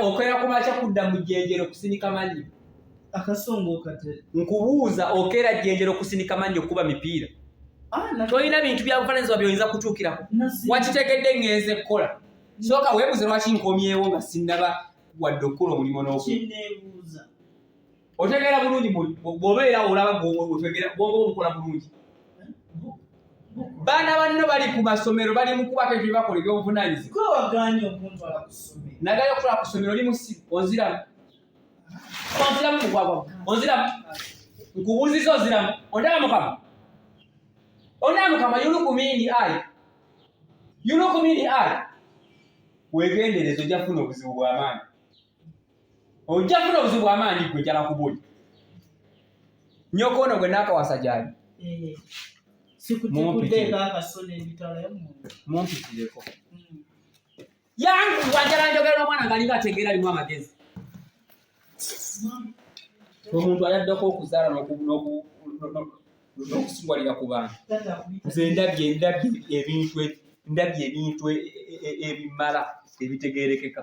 okwera kumakya kudda mu jjenjero kusinika mannyo nkubuuza okeera jjenjero kusinika mannyo okukuba mipiira ah, tolina bintu byabufananyizibwa byoyinza kutuukirako wakitegedde ngenze ekkola sooka weebuze lwaki nkomyewo nga sinnaba wadde okukola omulimu n'oku otegeera bulungi bwobeera olaba otegeera bwongo bukola bulungi baana banno bali ku masomero bali mu kuba kebyo bakola ebyobuvunanyizibwanagala okukola ku somero oli musi onziramu onziramu mugwagwa onziramu nkubuuziza onziramu ondaba mukama ondaba mukama yulukumini ai yulukumini ai wegendereza ojja kufuna obuzibu bwamaanyi ojja kufuna obuzibu amaanyi gwe jala kubuli nyoko ono gwe naakawasa gyali eh, mumpitireko hmm. yangu wajala njogera n'omwana nga alinga ategeera alimu amagezi omuntu ayaddeko okuzaala n'okusiwalira ku bantu nze ndabye ndabye ebintu ndabye ebintu e- e- e- ebimala ebitegeerekeka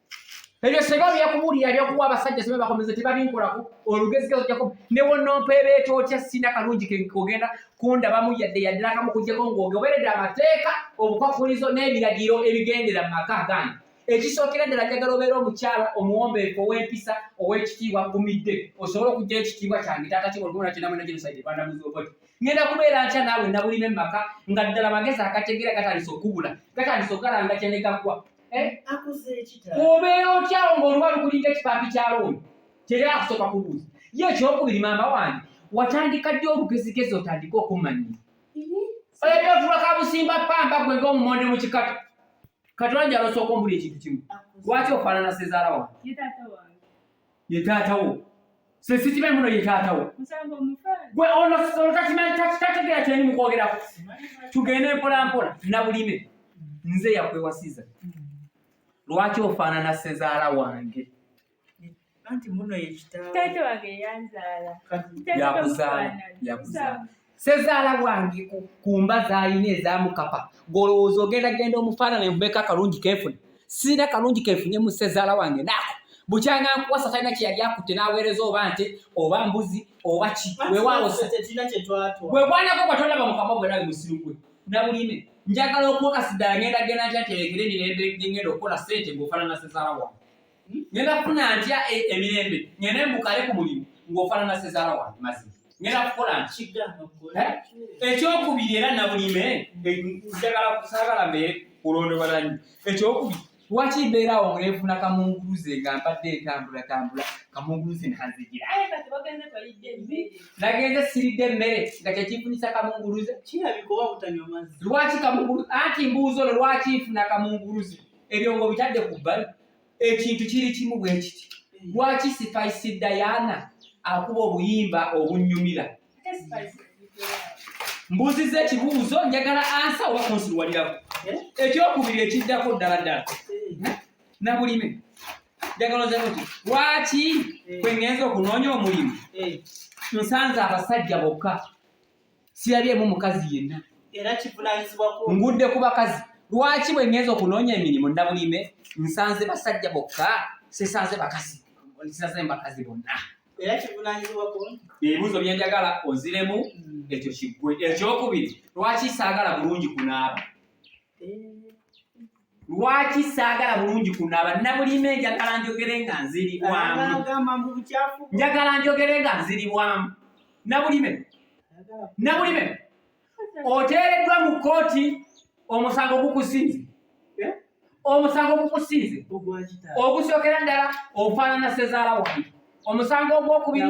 ebyo seba byakubuulira byakuwa abasajja seba bakomeze tebabinkolako olugezigezo jako newonompa ebeeta otya sina kalungi kogenda kundabamu yadde yaddilakamu kujjako ngaogoberedde amateeka obukwakulizo n'ebiragiro ebigendera mu maka agange ekisookera ddala njagala obeera omukyala omuwombeefu ow'empisa ow'ekitiibwa gumidde osobole okujja ekitiibwa kyange taata kibolgona kinamwena genocide rwanda muzi obodi ngenda kubeera ntya naawe nabulime mu maka nga ddala magezi agategeera gatandise okubula gatandise okugalanga kyenegaggwa Eh? obeera otyawo ngaoluba lukulinga ekipaapi kya looni tera akusooka kubuuza ye ekyokubiri maama wange watandika ddi olugezigezi otandika okumanya oyagavula kabusimba pamba gwe ngaomumonde mu kikata katulanja alosooka ombuli ekintu kimu lwaki ofaanana sezaala wange ye taata wo se sikimanyi muno ye taata wo gwe ono takimanyi tategeera kyeni mukwogerako tugende mpolampola nabulime nze yakwewasiza lwaki ofaanana sezaala wange anti muno yekitaawe yakuzaala yakuzaala sezaala wange ku mba zaalina ezamukapa golowooza ogenda genda omufaanana envumeko akalungi kenfuna sirina kalungi kenfunye mu sezaala wange naako bukyanga nkuwasa talina kyeyali akutte n'aweereza oba nte oba mbuzi oba ki wewawewekwanako bwatolaba mukama gwe nawe musiru gwe nabuline njagala okuwakasiddala ngenda genda ntya terekere mirembe ngenda okukola sente ngaofaanana sezaala wange ngenda kufuna ntya e, emirembe ngende mbukale ku mulimu ng'ofaanana sezaala wange mazima ngenda kukola nti eh? ekyokubiri era nabulime eh, njagala kusagala mbeere kulondobalanyi ekyokubiri lwaki mbeera awo nefuna kamunguluze nga mbadde entambula tambula kamunguluze nanzigira nagenze siridde emmere nga kyekifunisa kamunguluze lwaki kamunguluze anti mbuuzo no lwaki nfuna kamunguluze ebyo nga obitadde ku bbali ekintu kiri kimu bwe kiti lwaki sipaisi dayana akuba obuyimba obunyumira mbuuziza ekibuuzo njagala ansa oba kunsiruwalirako eh? ekyokubiri ekiddako ddala ddala eh? nabulime njagala ozemu ti lwaki eh. kwengenza okunoonya omulimu nsanze abasajja bokka sirabyemu mukazi yenna era kivunanyizibwa ku ngudde ku bakazi lwaki bwe ngenza okunoonya emirimu nabulime nsanze basajja bokka sisanze bakazi sisanze bakazi bonna era kivunanyizibwa ku ebibuuzo bye njagala oziremu hmm. ekyo kiggwe ekyokubiri lwaki saagala bulungi kunaaba eh. lwaki saagala bulungi kunaaba nabulime njagala njogere nga nziribwamu njagala njogere nga nziribwamu nabulime nabulime oteereddwa mu kkooti omusango gukusinze eh? omusango gukusinze ogusookera ddala ofaanana sezaala wange omusango ogwokubiri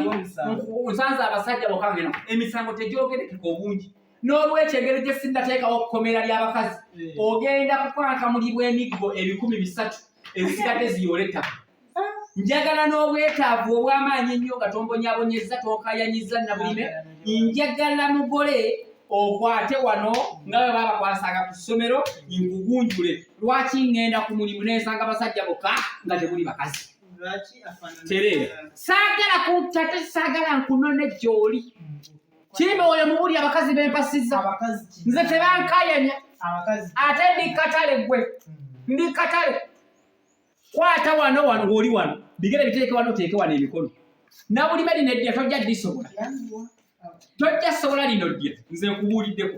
nsanze abasajja bokange emisango tegyogerekeka obungi n'olwekyo engeri gye sinnateekawo kkomera ly'abakazi eh. ogenda kukwankamulibwa emiggo ebikumi bisatu ezisigadde ziyoola ettaka njagala n'obwetaavu obw'amaanyi ennyo nga tombonyabonyezza tonkayanyizza nabulime njagala mugole okwate wano nga bwe babakwasanga ku ssomero nkugunjule lwaki ŋŋenda ku mulimu nensanga basajja bokka nga temuli bakazi tereera saagala kuntate saagala nkunone gy'oli kirime oyo mubuli abakazi bempasiza nze tebankayanya ate ndi katale gwe hmm. ndi katale kwata wano wano ng'oli wano bigere biteeke wano oteeke wano emikono nabulime lino eddya tojja disobola tojja sobola lino ddya nze nkubuuliddeko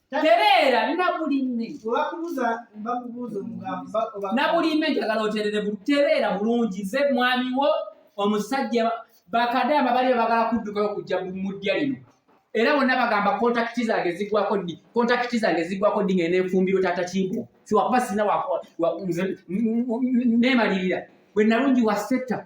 tereera na buli mme obakubuza bakubuza omugambo na buli mme njagala oterere tereera bulungi nze mwami wo omusajja bakadaama bali bagala kuddukayo kujja mu ddya lino era bonna bagamba kontakiti zange zigwako ddi kontakiti zange zigwako ddi ngene enfumbiro tata kimbo siwakuba sirina nemalirira bwe nalungi wasetta